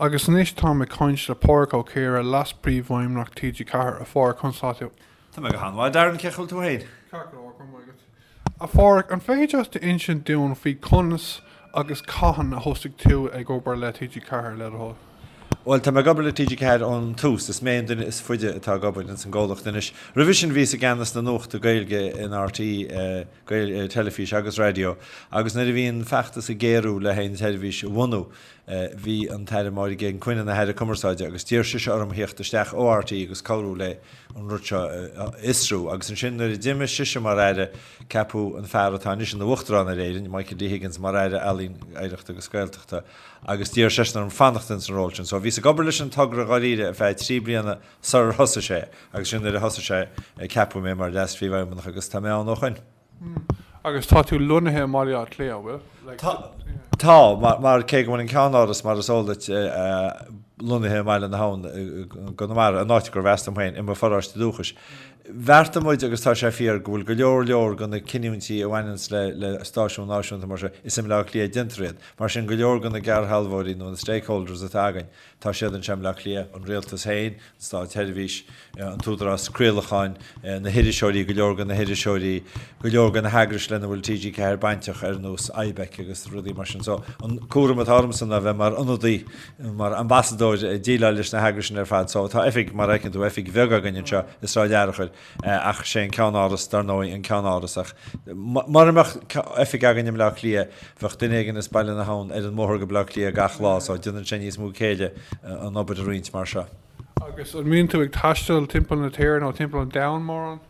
Agus anois táim ag caint le Pádraic Ó Ciardha, Leas-Príomhfheidhmeannach TG4. A Phádraic, conas atá tú? Tá mé go han-mhaith, a Darren, cén chaoi a bhfuil tú féin? Ceart go leor, go raibh maith agat. A Phádraic, an féidir leat insint dúinn faoi conas agus cathain a thosaigh tú ag obair le TG4, le do thoil? Bhuel, tá mé ag obair le TG4 ón tús, is mé an duine is faide atá ag obair ins an gcomhlacht anois. Roimhe sin bhíos i gceannas na nuachta Gaeilge in RTÉ teilifís agus raidió agus nuair a bhí an feachtas ag géarú le haghaidh an teilifís a bhunú, Bhí an tAire Máire Geoghegan Quinn ina hAire Cumarsáide agus d'iarr sise orm theacht isteach ó RTÉ agus cabhrú leis an rud seo a fhiosrú. Agus ansin nuair a d'imigh sise mar Aire, ceapadh an fear atá anois ina Uachtarán ar Éirinn, Michael D Higgins, mar Aire Ealaíon, Oidhreachta agus Gaeltachta agus d'iarr seisean orm fanacht ins an ról sin. So bhíos ag obair leis an togra dháiríre ar feadh trí bliana sarar thosaigh sé agus ansin nuair a thosaigh sé, ceapadh mé mar Leas-Phríomhfheidhmeannach agus tá mé ann ó shoin. Agus tá tú lonnaithe i mBaile Átha Cliath, an bhfuil? Tá, mar cé go bhfuil an ceann-áras, mar is eol duit, lonnaithe i mBaile na hAbhann i gConamara, an áit gurb as dom féin, i mo pharóiste dúchais, bheartaigh muid, agus tá sé fíor, go bhfuil go leor leor de na cinntí a bhaineanns le stáisiún náisiúnta mar seo, is i mBleá Cliath a déantar iad. Mar sin, go leor de na geallsealbhóirí nó na stakeholders atá againn, Tá siad anseo i mBaile Átha Cliath, an rialtas féin, an státsheirbhís, an tÚdarás Craolacháin, na hiriseoirí, go leor de na hiriseoirí, go leor de na heagrais lena bhfuil TG4 bainteach, ar nós IBEC agus rudaí mar sin. So, an cúram atá ormsa ná bheith mar ionadaí, mar ambasadóir, ag déileáil leis na heagrais sin ar fad. So, tá oifig, mar a fheiceann tú, oifig bheag againn anseo i Sráid Fhearchair. ach sé an ceann-áras dar ndóigh an ceann-áras agus mura mbeadh oifig againn i mBleá Cliath bheadh duine éigin as Baile na hAbhann ar an mbóthar go Bleá Cliath gach lá so déanann sé níos mó céille an obair a roinnt mar seo. Agus an mbíonn tú ag taisteal timpeall na tíre nó timpeall an domhain mórán?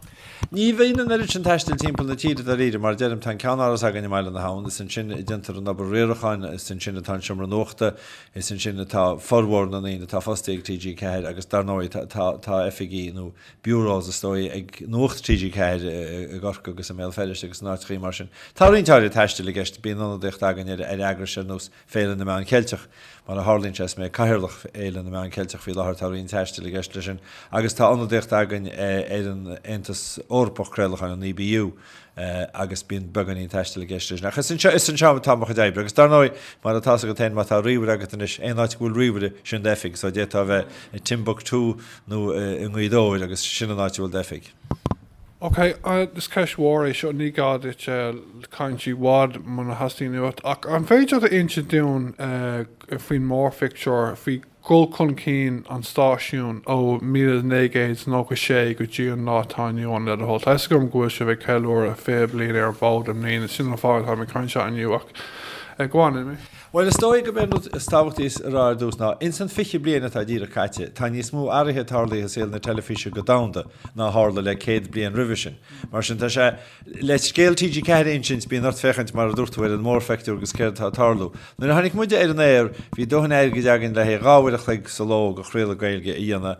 Ní bhíonn an oiread sin taistil timpeall na tíre dáiríre, mar a deirim tá an ceann-áras againn i mBaile na hAbhann, is ansin a déantar an obair riaracháin, is ansin atá an seomra nuachta, is ansin atá formhór na ndaoine atá fostaithe ag TG4 agus dar ndóigh tá oifigí nó bureaus is dóigh, ag Nuacht TG4 i gCorcaigh agus i mBéal Feirste agus in áiteachaí mar sin. Tá roinnt áirid taistil i gceist, bíonn ionadaíocht againn ar eagrais ar nós Féile na Meán Ceilteach, mar a tharlaíonn sé is mé Cathaoirleach Fhéile na Meán Ceilteach faoi láthair tá roinnt taistil i gceist leis sin agus tá ionadaíocht againn ar an Aontas Eorpach Craolacháin, an EBU. agus bíonn beagáinín taistil i gceist leis sin. Ach is anseo atá mo chuid oibre. Agus dar ndóigh, mar atá's agat féin, má tá ríomhaire agat anois, aon áit go bhfuil ríomhaire, sin d'oifig. So d'fhéadfá a bheith i Timbuktu nó i nGaoth Dobhair agus sin an áit a bhfuil d'oifig. Ok, is ceist mhór é seo, ní gá duit caint i bhfad muna theastaíonn uait, ach an féidir leat a inse dúinn faoin mórphictiúr, faoi dhul chun cinn an stáisiúin ó míle naoi gcéad nócha sé go dtí an lá atá inniu ann le do thoil. Tá fhios agam go bhfuil sibh ag ceiliúradh fiche bliain ar an bhfód i mbliana, sin an fáth atá mé ag caint anseo inniu ach go on anyway. Bhuel is dóigh gurb é an rud is tábhachtaí a rá ar dtús ná, ins an fiche bliain atá díreach caite, tá níos mó athraithe tarlaithe i saol na teilifíse go domhanda ná a tharla le céad bliain roimhe sin. Mar sin tá sé. Le scéal TG4 a insint, bíonn ort féachaint, mar a dúirt tú, ar an mórpheictiúr agus céard atá ag tarlú. Nuair a tháinig muide ar an aer, bhí dóthain airgid againn le haghaidh dhá uair an chloig sa ló de chraoladh Gaeilge a dhéanamh.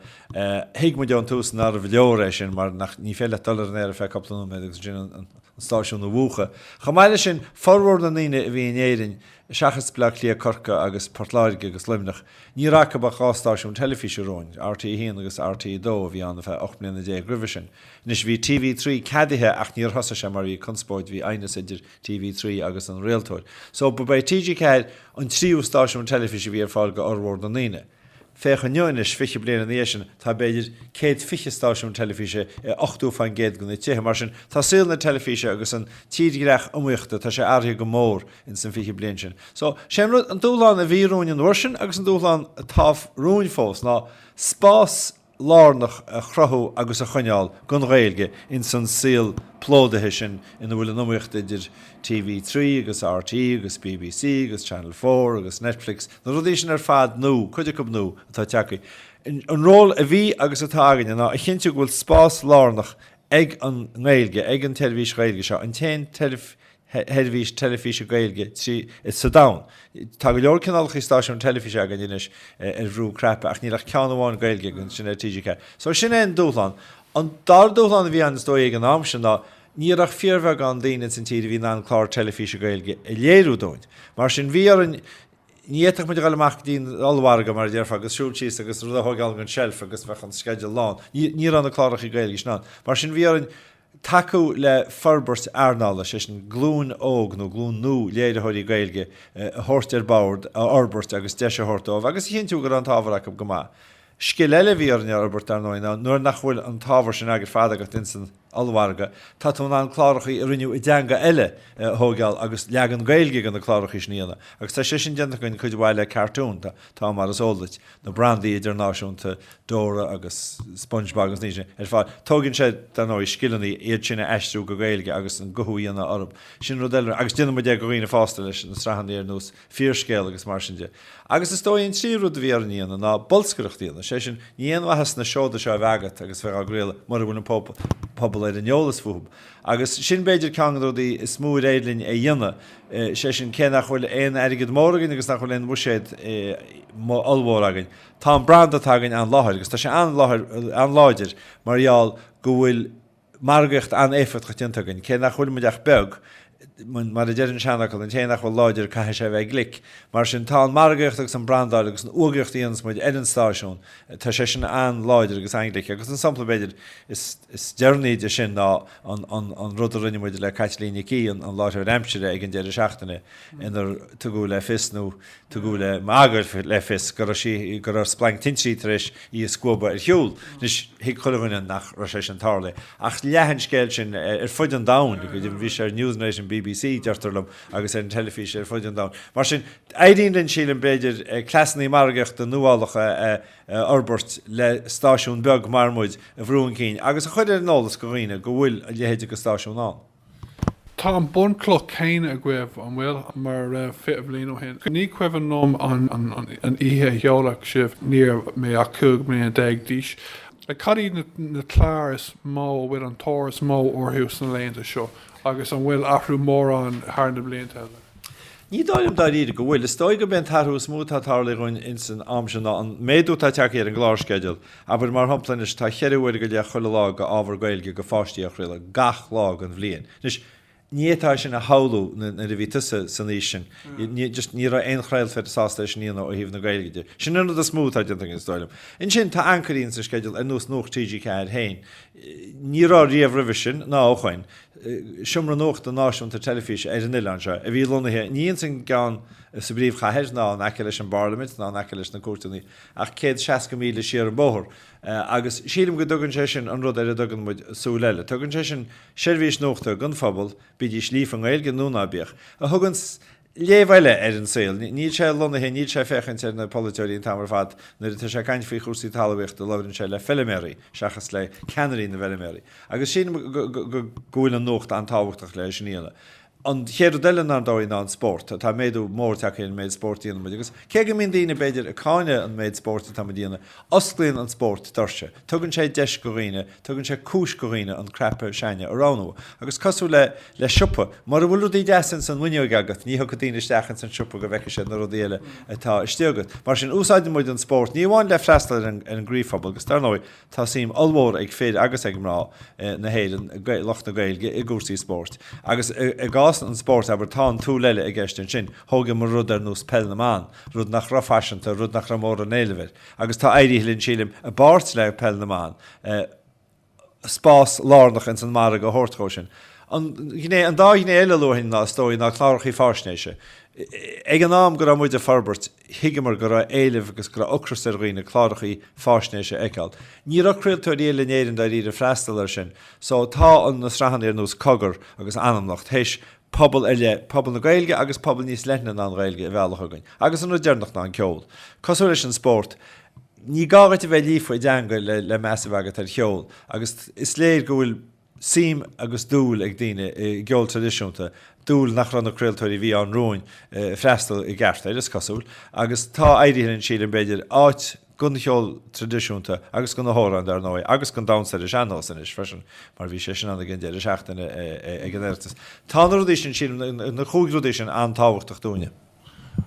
Thuig muid ón tús nárbh leor é sin mar nach, ní féidir leat dul ar an aer ar feadh cúpla nóiméad agus ansin an stáisiún a mhúchadh. Chomh maith leis sin, formhór na ndaoine a bhí in Éirinn, seachas Bleá Cliath, Corcaigh agus Port Láirge agus Luimneach, ní raibh acu ach dhá stáisiún teilifíse romhainn, RTÉ 1 agus RTÉ 2, bhí ann ar feadh ocht mbliana déag roimhe sin. Anois, bhí TV3 ceadaithe ach níor thosaigh sé mar bhí conspóid, bhí aighneas idir TV3 agus an rialtóir. So, ba é TG4 an tríú stáisiún teilifíse a bhí ar fáil go fhormhór na ndaoine. Féach inniu anois, fiche bliain ina dhiaidh sin, tá b'fhéidir céad fiche stáisiún teilifíse i ochtó fán gcéad de na tithe. Mar sin, tá saol na teilifíse agus an tírdhreach iomaíochta, tá sé athraithe go mór ins an fiche bliain sin. So, sé an rud, an dúshlán a bhí romhainn an uair sin agus an dúshlán atá romhainn fós ná spás lárnach a chruthú agus a choinneáil don Ghaeilge ins an saol plódaithe sin ina bhfuil an iomaíocht idir TV3 agus rte agus bbc agus Channel Four agus Netflix, na rudaí sin ar fad, nó cuid acu nua, atá ag teacht. An ról a bhí agus atá againne ná a chinntiú go bhfuil spás lárnach ag an nGaeilge, ag an teilifís Ghaeilge seo, an t-aon sheirbhís teilifíse Gaeilge atá sa domhan. Tá go leor cineálacha stáisiún teilifíse againn anois ar bhrú cnaipe ach níl ach ceann amháin Gaeilge againn, sin é TG4. So sin é an dúshlán. An dara dúshlán a bhí ann is dóigh ag an am sin ná ní raibh ach fíorbheagán daoine insan tír a bhí in ann clár teilifíse Gaeilge a léiriú dúinn. Mar sin bhí orainn, ní fhéadfadh muid a ghoil amach go dtí an ollmhargadh mar a déarfá agus siúl síos agus rud a thógáil ón seilf agus bheadh an sceideal lán, ní raibh na cláracha Gaeilge sin ann. Mar sin bhí orainn, Tacú le forbairt earnála, sé sin glúin óg nó glúin nua léiritheoirí Gaeilge a thabhairt ar bord, a fhorbairt agus deis a thabhairt dóibh agus a chinntiú go raibh an t-ábhar acu go maith. Scil eile a bhí orainn a fhorbairt dar ndóigh ná nuair nach bhfuil an t-ábhar sin ar fad agat insan ollmhargadh tá tú in ann clárachaí a rinneadh i dteanga eile a thóigeáil agus leagan Gaeilge de na clárachaí sin a dhéanamh agus tá sé sin déanta againn cuid mhaith le cartúin, tá, mar is eol duit. na brandaí idirnáisiúnta Dora agus Spongebob agus iad sin ar fad. Tógann sé, dar ndóigh, scileanna iad sin a aistriú go Gaeilge agus an guthú a dhéanamh orthu. Sin rud eile agus déanann muid é go dhaoine fásta leis na sraitheanna ar nós Fíorscéal agus mar sin de. Agus is dóigh an tríú rud a bhí orainn a dhéanamh ná bolscaireacht a dhéanamh, sé sin níl aon mhaitheas na seoda seo a bheith agat agus a bheith á gcraoladh mura bhfuil an pobal ar an eolas fúthu. Agus sin b'fhéidir ceann de na rudaí is mó ar éirigh linn a dhéanamh, sé sin cé nach bhfuil aon airgead mór againn agus nach bhfuil aon bhuiséad ollmhór againn, tá an branda atá againn an-láidir agus tá sé an-láidir mar gheall go bhfuil margaíocht an-éifeachtach déanta againn, cé nach bhfuilimid ach beag Mar a deir an seanfhocal, an té nach bhfuil láidir caithfidh sé a bheith glic. Mar sin, tá an margaíocht agus an brandáil agus an fhógraíocht a dhéanas muid ar an stáisiún, tá sé sin an-láidir agus an-glic agus an sampla b'fhéidir is deireanaí de sin ná an rud a rinne muid le Caitlín Nic Aoidh, an láithreoir aimsire, ag an deireadh seachtaine inar tugadh le fios nó. Tugadh le magadh le fios go raibh sí, go raibh splanc tintrí tar éis í a scuabadh ar shiúl. Anois, thuig chuile dhuine nach raibh sé sin tarlaithe. Ach leath an scéal sin ar fud an domhain. Bhí sé ar Newsnight an bbc, deirtear liom, agus ar an teilifís ar fud an domhain. Mar sin, éiríonn linn, sílim, b'fhéidir, cleasannaí margaíochta nuálacha a fhorbairt le stáisiún beag mar muid a bhrú chun cinn agus a chur ar an eolas go dhaoine go bhfuil a leithéid go stáisiún ann. Tá an bhunchloch chéanna agaibh, an bhfuil, mar a raibh fiche bliain ó shin. Ní cuimhin liom an oíche a seoladh sibh, ní raibh mé ach cúig bliana déag d'aois. Cad iad na cláir is mó a bhfuil an tóir is mó orthu sna laethanta seo agus an bhfuil athrú mór ann thar na blianta a déarfá? Ní dóigh liom dáiríre go bhfuil. Is dóigh gurb é an t-athrú is mó atá ag tarlú againn ins an am seo ná an méadú atá ag teacht ar an gclársceideal. Abair mar shampla anois, tá cheithre uair go leith chuile lá go ábhar Gaeilge go pháistí á chraoladh gach lá den bhliain. Anois, ní fhéadfá é sin a shamhlú nuair a bhí tusa san aois sin. Ní raibh aon chraoltóir sásta é sin a dhéanamh ó thaobh na Gaeilge de. Sin an rud is mó atá déanta againn, is dóigh liom. Ansin, tá ancairí sa sceideal ar nós Nuacht TG4 féin. Ní raibh riamh roimhe sin, ná ó shoin, seomra nuachta náisiúnta teilifíse ar an oileán seo, a bhí lonnaithe, ní i gceann sa bpríomhchathair, ná in aice leis an bParlaimint, ná in aice leis na cúirteanna, ach céad seasca míle siar an bóthar agus sílim go dtugann sé sin an rud ar a dtugann muid Súil Eile. Tugann sé sin seirbhís nuachta don phobal, bídís líofa i nGaeilge nó ná bíodh, a thugann léamh eile ar an saol. Níl sé lonnaithe, níl sé ag féachaint ar na polaiteoirí an t-am ar fad, nuair atá sé ag caint faoi chúrsaí talmhaíochta labhrann sé le feilméaraí seachas le ceannairí na bhfeilméaraí agus sílim go bhfuil an nuacht an-tábhachtach le sin a dhéanamh. An chéad rud eile ar ndóigh ná an spórt. Tá méadú mór tagtha ar an méid spóirt a dhéanann muid agus cé go mbíonn daoine, b'fhéidir, ag cáineadh an méid spóirt atá muid a dhéanamh, osclaíonn an spórt doirse. Tugann sé deis go dhaoine, tugann sé cúis go dhaoine an cnaipe s'againne a roghnú. Agus cosúil le, le siopa, mura bhfuil rudaí deasa ins an bhfuinneoig agat, ní thiocfaidh daoine isteach ins an siopa go bhfeicfidh siad na rudaí eile atá istigh agat. Mar sin, úsáideann muid an spórt ní amháin le freastal ar an, ar an gcroíphobal agus, dar ndóigh, Tá suim ollmhór ag fir agus ag mná na hÉireann, lucht na Gaeilge, i gcúrsaí spóirt. Agus i gcás an spóirt, abair, tá an tsúil eile i gceist ansin, thóigeamar rud ar nós Peil na mBan, rud nach raibh faiseanta, rud nach raibh móran éileamh air. Agus tá éirithe linn, sílim, i bpáirt le Peil na mBan, spás lárnach ins an margadh a thabhairt dhó sin. An ghné, an dá ghné eile a luafainn ná, is dóigh, ná clárachaí fáisnéise. Ag an am go raibh muid ag forbairt, Thuigeamar go raibh éileamh agus go raibh ocras ar dhaoine clárachaí fáisnéise a fheiceáil. Ní raibh craoltóirí eile in Éirinn dáiríre ag freastal ar sin. So tá an na sraitheanna ar nós Cogar agus Anamnocht théis pobal ar leith, pobal na Gaeilge agus pobal níos leithne ná an Ghaeilge a mhealladh chugainn. Agus an rud deireanach ná an ceol. Cosúil leis an spórt, ní gá dhuit a bheith líofa i dteanga le le meas a bheith agat ar cheol agus is léir go bhfuil suim agus dúil ag daoine i gceol traidisiúnta, dúil nach raibh na craoltóirí a bhí ann romhainn ag freastal i gceart air, is cosúil. Agus tá éirithe linn, sílim, b'fhéidir, áit don cheol traidisiúnta agus do na hamhráin, dar ndóigh, agus don damhsa ar an sean-nós anois freisin, mar bhí sé sin ann ag an deireadh seachtaine ag an Oireachtas. Tá na rudaí sin, sílim, na cúig rudaí sin an-tábhachtach dúinne.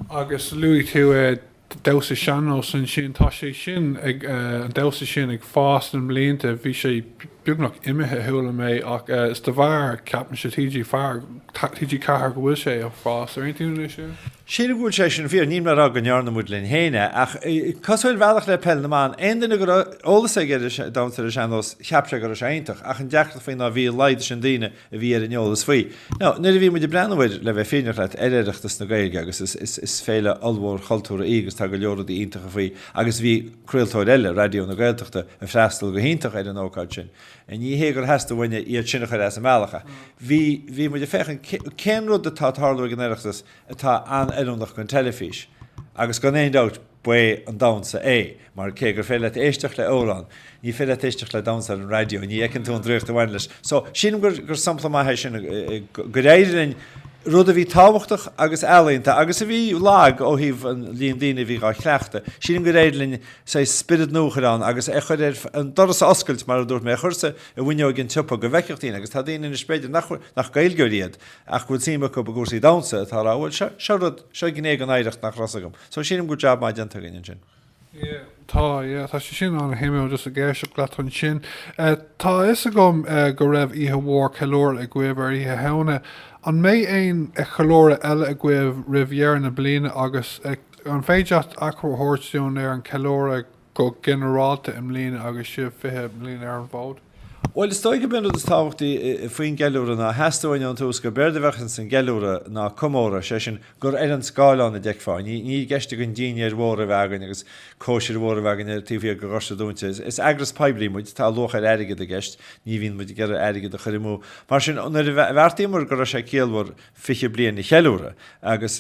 Agus luaigh tú damhsa sean-nós ansin. Tá sé sin ag, an damhsa sin ag fás le mblianta. Bhí sé beagnach imithe, chuala mé, ach is de bharr, ceapaimse, TG4, TG4 go bhfuil sé ag fás. An aontaíonn tú leis sin? Sílim go bhfuil sé sin fíor. Níl mé a rá go ndearna muid linn féin é, ach cosúil ar bhealach le Peil na mBan, aon duine go raibh eolas aige ar an damhsa ar an sean-nós, cheap sé go raibh sé iontach. Ach an deacracht faoi ná bhí a laghad sin daoine. a bhí ar an eolas faoi. Now, nuair a bhí muid ag breathnú air, le bheith fírinneach leat, ar Oireachtas na Gaeilge agus is, is, is féile ollmhór chultúrtha í agus tá go leor rudaí iontacha faoi agus bhí craoltóir eile, Raidió na Gaeltachta, ag freastal go hiontach ar an ócáid sin. Ní hé gur theastaigh uainne iad sin a chur as an mbealach ach bhí, bhí muid ag féachaint cé, cén rud atá ag tarlú ag an Oireachtas atá an-oiriúnach don teilifís agus gan aon dabht, ba é an damhsa é, mar cé gur féidir leat éisteacht le amhrán, ní féidir leat éisteacht le damhsa ar an raidió, ní fheiceann tú an draíocht a bhaineann leis. So, sílim gur, gur sampla maith é sin, gur éirigh linn rud a bhí tábhachtach agus ealaíonta agus a bhí lag ó thaobh an líon daoine a bhí dhá chleachtadh, sílim gur éirigh linn, saghas, spiorad nua a chur ann agus a chur ar, an doras a oscailt mar a dúirt mé, a chur sa, i bhfuinneoig an tsiopa go bhfeicfeadh daoine agus tá daoine anois b'fhéidir nach, nach Gaeilgeoirí iad ach go bhfuil suim acu i gcúrsaí damhsa atá a rá bhuel, seo, seo rud, seo gné den oidhreacht nach raibh 's agam. So sílim go bhfuil jab maith déanta againn ansin. Yeah tá, yeah tá sé sin an-shuimiúil just ag éisteacht leat ansin. Tá a fhios agam go raibh oíche mhór ceiliúradh agaibh ar Oíche Shamhna. An mbeidh aon cheiliúradh eile agaibh roimh dheireadh na bliana agus an féidir leat achoimre a thabhairt dúinn ar an cheiliúradh? go ginearálta i mbliana agus sibh 20 bliain ar an bhfód? Bhuel is dóigh gurb é an rud is tábhachtaí faoin gceiliúradh ná theastaigh uainn ón tús gurb éard a bheadh ins an gceiliúradh ná comóradh, sé sin gur ar an scáileán a d'fheicfeá í. Níl i gceist againn dinnéar mór a bheith againn agus cóisir mhór a bheith againn taobh thiar de dhoirse dúnta. Is eagras poiblí muid, tá luach ar airgead i gceist, ní bhíonn muid ag iarraidh airgead a chur amú. Mar sin nuair a bheartaíomar go raibh sé ciallmhar, 20 bliain a cheiliúradh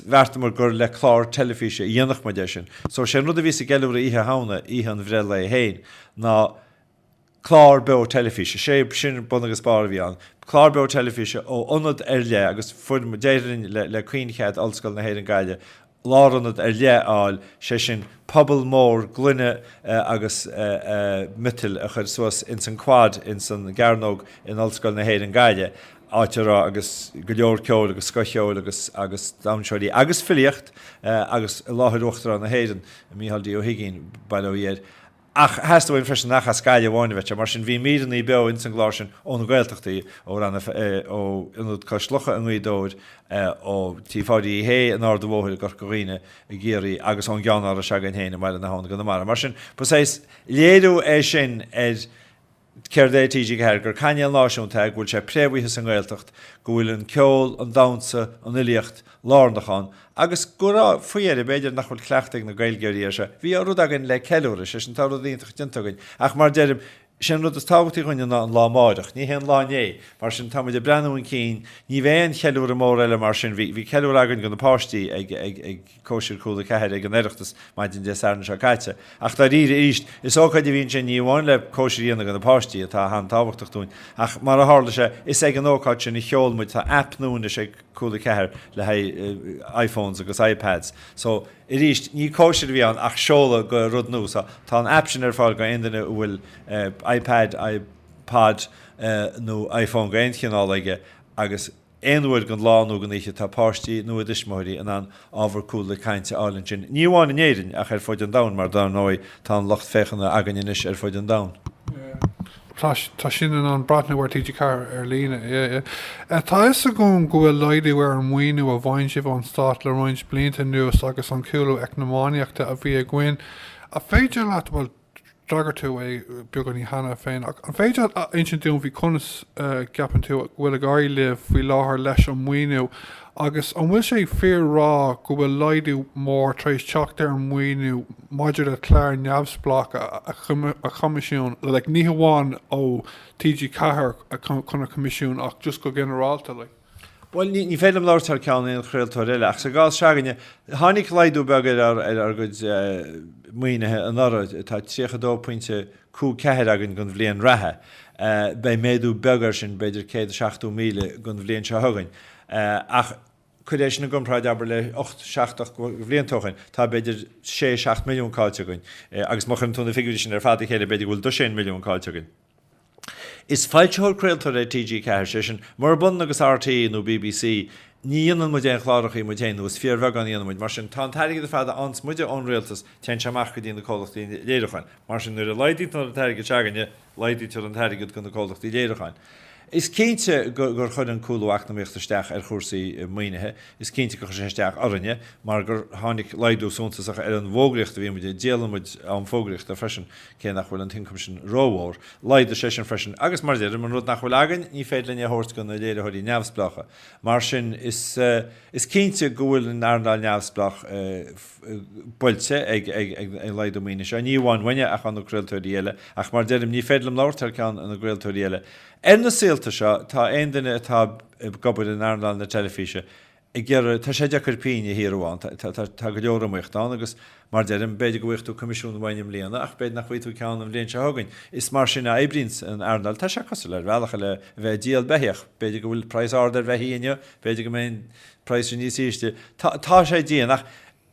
bheartamar gur le clár teilifíse a dhéanfadh muid é sin. So sé an rud a bhí sa gceiliúradh Oíche Shamhna, oíche an bhreithlae féin, ná clár beo teilifíse. Sé sin bun agus barr a bhí ann. Clár beo teilifíse ó ionad ar leith agus fuair, d'éirigh linn le caoinchead Ollscoil na hÉireann Gaillimhe, lárionad ar leith a fháil, sé sin puball mór gloine agus miotail a chur suas ins an Quad ins an gCearnóg in Ollscoil na hÉireann Gaillimhe, áit a raibh agus go leor ceoil agus scothcheoil agus agus damhsóirí agus filíocht agus i láthair Uachtarán na hÉireann, Micheál D. Ó hUigínn, bail ó Dhia air. Ach theastaigh uainn freisin nach ascaill amháin a bheadh ann, mar sin bhí míreanna beo ins an gclár sin ó na Gaeltachtaí, ó Rann ó Ionad Cois Locha i nGaoth Dobhair, ó Tigh Pháidí Uí Shé in Ard an Bhóthair i gCorca Dhuibhne, i gCiarraí, agus ón gceannáras againn féin i mBaile na hAbhann i gConamara. Mar sin, ba saghas léiriú é sin ar Céard é TG4? Gur cainéal náisiúnta é? Go bhfuil sé préamhaithe sa nGaeltacht? Go bhfuil an ceol, an damhsa, an fhilíocht lárnach ann? Agus go raibh, faoi dheireadh, b'fhéidir nach bhfuil cleachtadh ag na Gaeilgeoirí air seo. Bhí rud againn le ceiliúradh, sé sin tá rud iontach déanta againn. Ach mar deirim, sé an rud is tábhachtaí dhúinne ná an lá amáireach, ní hé an lá inné. Mar sin tá muid ag breathnú chun cinn, ní bheidh aon cheiliúradh mór eile mar sin bhí, bhí ceiliúradh againn go na páistí ag, ag, ag, Cóisir Chúla 4 ag an Oireachtas maidin Dé Sathairn seo caite. Ach dáiríre arís, is ócáid a bhí ansin ní amháin le cóisir a dhéanamh do na páistí, atá an-tábhachtach dúinn, ach mar a tharla sé, is ag an ócáid sin a sheol muid, tá aip nua anois ag Cúla 4 le haghaidh iPhones agus iPads, so arís ní cóisir a bhí ann ach seoladh go rud nua, so tá an aip sin ar fáil go aon duine a bhfuil iPad, iPod nó iPhone go aon chineál aige agus. Aon uair den lá nó den oíche atá páistí nó a dtuismitheoirí in ann ábhar Cúla Ceathair a fháil ansin, ní amháin in Éirinn ach ar fud an domhain mar dár ndóigh tá an lucht féachana againn anois ar fud an domhain. atá in ann breathnú ar TG4 ar líne. Tá a fhios agam go bhfuil laghdú ar an maoiniú a fhaigheann sibh ón Stát le roinnt blianta anuas agus an cúlú eacnamaíochta a bhí againn an féidir leat, bhuel, d'fhreagair tú é beagáinín cheana féin ach an féidir leat insint dúinn faoi conas a gceapann tú go bhfuil ag éirí libh faoi láthair leis an maoiniú agus an bhfuil sé fíor a rá go bhfuil laghdú mór tar éis teacht ar an maoiniú maidir le cláir neamhspleácha a choimisiúnú, like ní hamháin ó TG4 chun a choimisiúnú ach just go ginearálta like? Bhuel, ní féidir liom labhairt thar ceann aon chraoltóir eile, ach sa gcás seo againne, tháinig laghdú beag ar ár gcuid maoinithe anuraidh, tá 32.54 againn don bhliain reatha, beidh méadú beag air sin, b'fhéidir 170,000 don bhliain seo chugainn, ach cuir é sin i gcomparáid abair le 8, 7, 8 mbliana ó shin, tá b'fhéidir 6, 7 milliún caillte againn, agus má chuireann tú na figiúirí sin ar fad le chéile b'fhéidir go bhfuil 12 milliún caillte againn. Is foilsitheoir craoltóir é TG4, sé sin, murab ionann agus RTÉ nó BBC, ní dhéanann muid aon chlárachaí muid féin, nó is fíorbheagán a dhéanann muid. Mar sin, tá an t-airgead ar fad a fhaigheanns muide ón rialtas, téann sé amach go dtí na comhlachtaí léiriúcháin. Mar sin, nuair a laghdaítear an t-airgead se'againne, laghdaítear an t-airgead go na comhlachtaí léiriúcháin. Is cinnte gur chuir an cúlú eacnamaíochta isteach ar chúrsaí maoinithe, is cinnte gur chuir sé isteach orainne mar gur tháinig laghdú suntasach ar an bhfógraíocht a bhíonn muid, díolann muid am fógraíochta freisin. Cé nach bhfuil an t-ioncam sin rómhór, laghdaigh sé sin freisin agus, mar a deirim, an rud nach bhfuil againn, ní féidir linn é a thabhairt do na léiritheoirí neamhspleácha. Mar sin, is cinnte go bhfuil an earnáil neamhspleách buailte ag an laghdú maoinithe seo, ní amháin uainne ach ó na craoltóirí eile, ach mar a deirim, ní féidir liom labhairt thar ceann na gcraoltóirí eile. Ar na saolta seo, tá aon duine atá ag obair in earnáil na teilifíse ag iarraidh, tá sé deacair pingin a shaothrú ann, tá go leor iomaíocht ann agus mar deirim, b'fhéidir go bhfaighfeá coimisiún uainn i mbliana ach b'fhéidir nach bhfaighidh tú ceann an bhliain seo chugainn. Is mar sin a oibríonn an earnáil, tá sé cosúil ar bhealach le a bheith ag díol beithíoch, b'fhéidir go bhfuil praghas ard ar bheithígh inniu, b'fhéidir go mbeidh an praghas sin níos ísle, tá sé dian ach,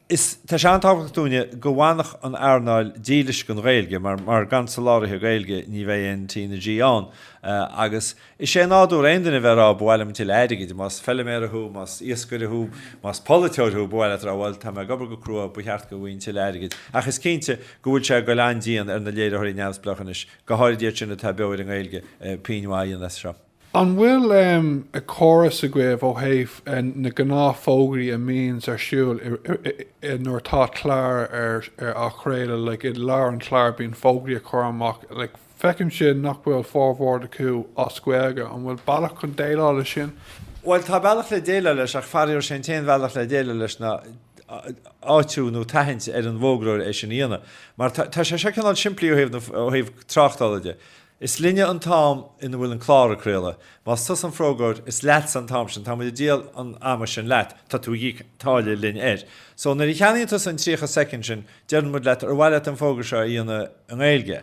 Is tá sé an-tábhachtach dúinne go bhfanfadh an earnáil dílis don Ghaeilge mar gan soláthraithe Gaeilge ní bheidh aon T na G ann agus is é nádúr aon duine a bheith ag rá 'ba mhaith liom tuilleadh airgid'. Más feiliméara thú, más iascaire thú, más polaiteoir thú ba mhaith leat a rá 'bhuel tá mé ag obair go crua, ba cheart go bhfaighinn tuilleadh airgid'. Ach is cinnte go bhfuil sé ag goil an-dian ar na léiritheoirí neamhspleácha anois, go háirid iad sin atá beo ar an nGaeilge, pingin mhaith a dhéanamh as seo. An bhfuil a córas agaibh ó thaobh na gnáth fógraí a mbíonns ar siúl i nuair atá clár á chraoladh like i lár an chlár bíonn fógraí a chur amach like feicimse nach bhfuil formhór acu as Gaeilge an bhfuil bealach chun déileáil le sin? Bhuel tá bealach le déileáil leis ach faraor sé an t-aon bhealach le déileáil leis ná áitiú nó tathaint ar an bhfógróir é sin a dhéanamh mar tá tá sé seo cineál simplí ó thaobh na ó thaobh tráchtála de. Is linne an t-am ina bhfuil an clár ag craoladh. Más tusa an fógróir, is leatsa an t-am sin. Tá muid ag díol an ama sin leat. Tá tú ag íoc táille linn air. So, nuair a cheannaíonn tusa an 30 soicind sin, deireann muid leat, ar mhaith leat an fógra seo a dhéanamh i nGaeilge?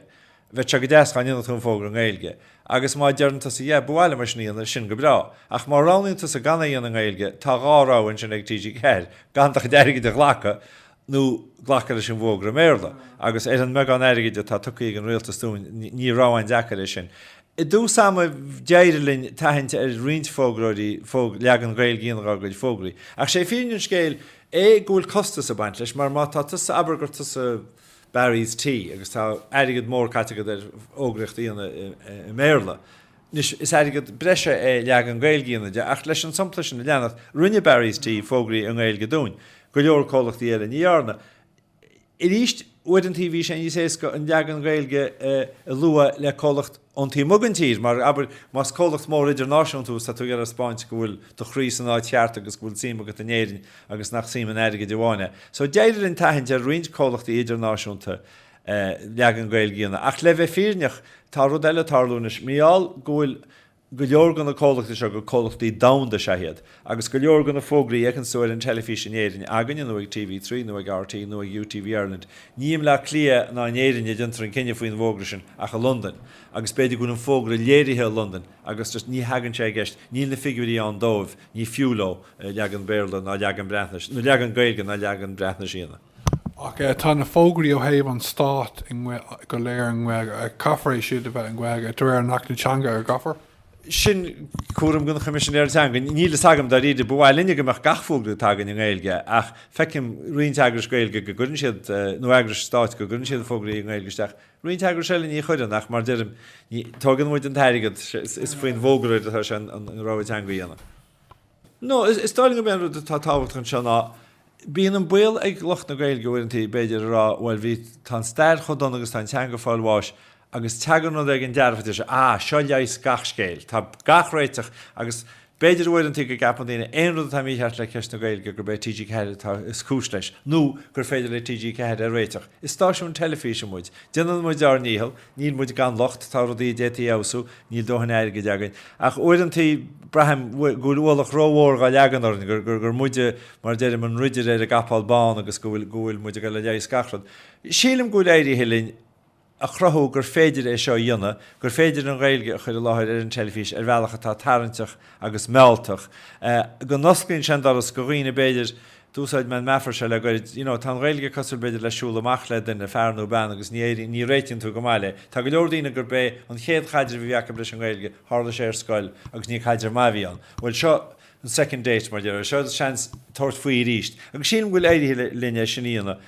Bheadh sé go deas dhá ndéanfadh tú an fógra i nGaeilge. Agus má deireann tusa, yeah, ba mhaith liom é sin a dhéanamh, sin go breá. Ach má roghnaíonn tusa gan é a dhéanamh i nGaeilge, tá dhá rogha ansin ag TG4, gan do chuid airgid a ghlacadh, nó glacadh leis an bhfógra i mBéarla agus ar an mbeagán airgid atá tugtha ag an rialtas dúinn ní rogha dheacair é sin. I dtús ama d'éirigh linn tathaint ar roinnt fógróirí ó leagan Gaeilge a dhéanamh dhá gcuid fógraí. Ach sé fírinne an scéil é go bhfuil costas ag baint leis mar má tá tusa abair gur tusa Barry's Tea agus tá airgead mór caite agat ar fhógra a dhéanamh i mBéarla, Anois, is airgead breise é leagan Gaeilge a dhéanamh de ach leis an sampla sin a leanacht, rinne Barry's Tea fógraí i nGaeilge dúinn. Go leor comhlachtaí eile ní dhearna. Arís, uaireanta bhí sé níos éasca an leagan Gaeilge a lua le comhlacht ón taobh amuigh den tír mar, abair, más comhlacht mór idirnáisiúnta thú is tá tú ag iarraidh a thaispeáint go bhfuil do chroí san áit cheart agus go bhfuil suim agat in Éirinn agus nach suim in airgead amháin é. So d'éirigh linn tathaint ar roinnt comhlachtaí idirnáisiúnta leagan Gaeilge a dhéanamh. Ach le bheith fírinneach, tá rud eile ag tarlú anois. Mar gheall go bhfuil go leor go na comhlachtaí seo gur comhlachtaí domhanda is ea iad. Agus go leor go na fógraí a fheiceanns tú ar an teilifís in Éirinn, againne nó ag TV3 nó ag RTÉ nó ag UTV Ireland, ní i mBleá Cliath ná in Éirinn a déantar an cinneadh faoin bhfógra sin ach i Londain. Agus b'fhéidir go bhfuil an fógra léirithe i Londain agus just ní thagann sé i gceist, níl na figiúirí ann dóibh, ní fiú leo leagan Béarla ná leagan Breatnais, nó leagan Gaeilge ná leagan Breatnaise a dhéanamh. Ach tá na fógraí ó thaobh an stáit go léir i nGaeilge. Caithfear iad siúd a bheith i nGaeilge, de réir an Achta Teanga, an gcaithfear? Sin cúram don Choimisinéir Teanga. Níl fhios agam dáiríre. Ba mhaith linne go mbeadh gach fógra atá againn i nGaeilge ach feicim roinnt eagrais Gaeilge go gcuireann siad, nó eagrais stáit go gcuireann siad fógraí i nGaeilge isteach. Roinnt eagrais eile ní chuireann ach mar deirim, ní, tógann muid an t-airgead, is faoin bhfógróir atá sé an rogha teanga a dhéanamh. No, is dóigh liom go mb'é an rud atá tábhachtach anseo ná Bíonn an baol ag lucht na Gaeilge uaireanta, b'fhéidir, a rá, bhuel, bhí, tá an stair chomh dona agus tá an teanga ag fáil bháis agus teagann rud éigin dearfach, ó seo, ah, seo leigheas gach scéil, tá gach réiteach agus b'fhéidir uaireanta go gceapann daoine, aon rud atá mícheart le ceist na Gaeilge, gurb é TG4 atá, is cúis leis nó gur féidir le TG4 é a réiteach. Is stáisiún teilifíse muid. Déanann muid ár ndícheall. Níl muid gan locht, tá rudaí a d'fhéadfaí a fheabhsú, níl dóthain airgid againn. Ach uaireanta, braithim go bhfuil ualach rómhór gá leagan orainn, gur muide, mar a deirim, an ridire ar an gcapall bán agus go bhfuil, go bhfuil muid ag dul ag leigheas gach rud. Sílim go bhfuil éirithe linn a chruthú gur féidir é seo a dhéanamh, gur féidir an Ghaeilge a chur i láthair ar an teilifís ar bhealach atá tarraingteach agus mealltach, go n-osclaíonn sé an doras go dhaoine b'fhéidir, d'úsáid mé an meafar seo le gairid, you know, tá an Ghaeilge cosúil b'fhéidir le siúl amach le duine, fear nó bean agus ní éiríonn, ní réitíonn tú go maith léi. Tá go leor daoine gurb é an chéad chaidreamh a bhí acu leis an Ghaeilge, tharla sé ar scoil agus ní caidreamh maith a bhí ann. Bhuel seo, an second date mar dheireadh. Seo duit seans tabhairt faoi arís. Agus sílim go bhfuil éirithe linn é sin a dhéanamh.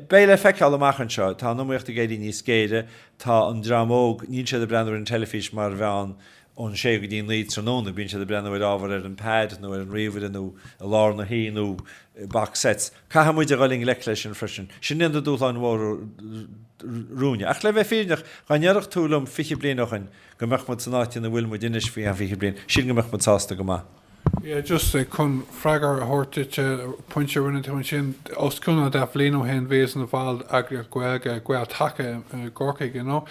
Beidh sé le feiceáil amach anseo. Tá an iomaíocht ag éirí níos géire. Tá an dream óg, níl siad ag breathnú ar an teilifís mar mheán ón sé go dtí naoi tráthnóna. Bíonn siad ag breathnú ar ábhar ar an pad nó ar an ríomhaire nó i lár na hoíche nó box sets. Caithfidh muid a dhul i ngleic leis sin freisin. Sin iad na dúshláin mhóra romhainne. Ach le bheith fírinneach, dá ndéarfadh tú liom fiche bliain ó shin, go mbeadh muid san áit ina bhfuil muid anois faoi fhiche bliain, sílim go mbeadh muid sásta go maith. Yeah, just chun freagra a thabhairt duit ar an bpointe a rinne tú ansin, os cionn dhá bhliain ó shin bhíos-sa i mo bhall d'eagraíocht Ghaeilge, Gael-Taca i gCorcaigh you know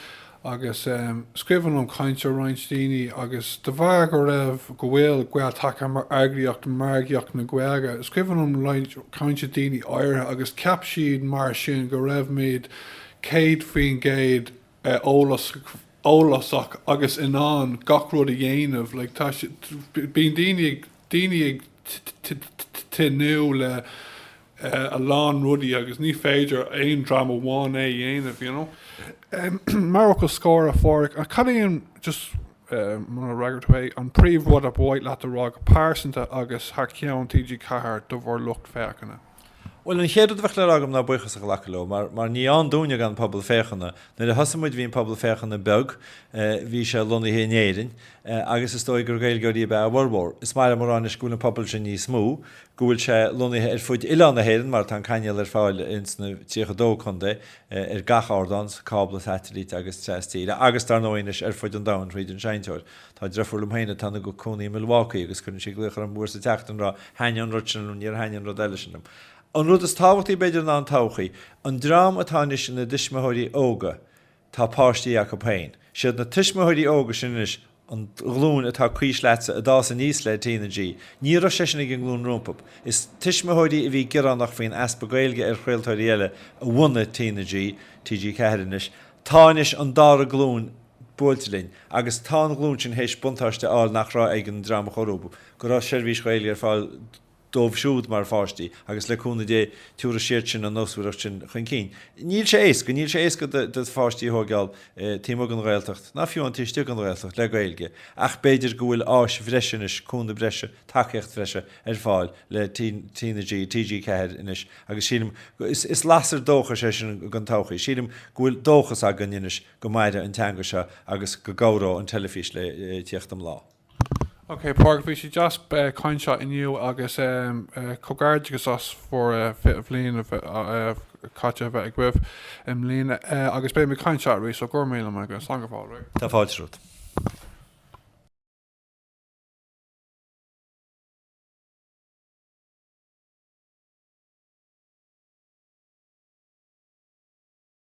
agus scríobhadh chugam cainte ó roinnt daoine agus de bharr go raibh, go bhfuil Gael-Taca mar eagraíocht margaíocht na Gaeilge, scríobhadh chugam roinnt cainte daoine áirithe agus cheap siad mar sin go raibh muid 100% eolasach agus in ann gach rud a dhéanamh like tá sé bíonn daoine ag tnúth le a lán rudaí agus ní féidir aon dream amháin é a dhéanamh you know mar fhocal scoir a Phádraic an cad é an just muna fhreagair tú é an príomh rud ba mhaith leat a rá go pearsanta agus thar ceann TG4 do bhur lucht féachana? Bhuel, an chéad rud a bheadh le rá agam ná buíochas a ghlacadh leo mar, mar níorbh ann dúinne gan pobal féachana. Nuair a thosaigh muid bhí an pobal féachana beag, bhí sé lonnaithe in Éirinn agus is dóigh gur Gaeilgeoirí ab ea a bhformhór. Is maith liom a rá anois go bhfuil an pobal sin níos mó, go bhfuil sé lonnaithe ar fud oileán na hÉireann mar tá an cainéal ar fáil ins na 32 contae ar gach ardán, cábla, satailít agus trastíre agus dar ndóigh anois ar fud an domhain thríd an seinnteoir. Tá deirfiúr liom féin atá ina cónaí i Milwaukee agus cuireann sí glaoch orm uair sa tseachtain a rá, thaitnigh an rud sin liom, níor thaitnigh an rud eile sin liom. An rud is tábhachtaí b'fhéidir ná an todhchaí. An dream atá anois ina dtuismitheoirí óga, tá páistí acu féin. Siad na tuismitheoirí óga sin anois, an ghlúin atá comhaois leatsa a d'fhás aníos le TnaG. Ní raibh sé sin ag an nglúin rompu. Is tuismitheoirí a bhí gearánach faoin easpa Gaeilge ar chraoltóirí eile a bhunaigh TnaG, TG4 anois. Tá anois an dara glúin buailte linn agus tá an ghlúin sin théis buntáiste a fháil nach raibh ag an dream a chuaigh rompu, go raibh seirbhís Ghaeilge ar fáil dóibh siúd mar pháistí agus le cúnamh Dé tiúrfaidh siad sin an nósmhaireacht sin chun cinn. Níl sé éasca, níl sé éasca do pháistí a thóigeáil taobh amuigh den Ghaeltacht, ná fiú amháin taobh istigh den Ghaeltacht, le Gaeilge ach b'fhéidir go bhfuil áis bhreise anois, cúnamh breise, tacaíocht bhreise ar fáil le TG4 anois agus sílim, is lasair dóchais é sin don todhchaí, sílim go bhfuil dóchas againn anois Go maire an teanga seo agus go gcabhródh an teilifís le tíocht an lae. Ok Pádraig, bhí sé deas caint leat inniu agus comhghairdeachas as bhur 20 bhliain caite a bheith agaibh i mbliana agus beidh mé ag caint leat arís so gura míle maith agaibh. Slán go fóill. Tá fáilte romhat.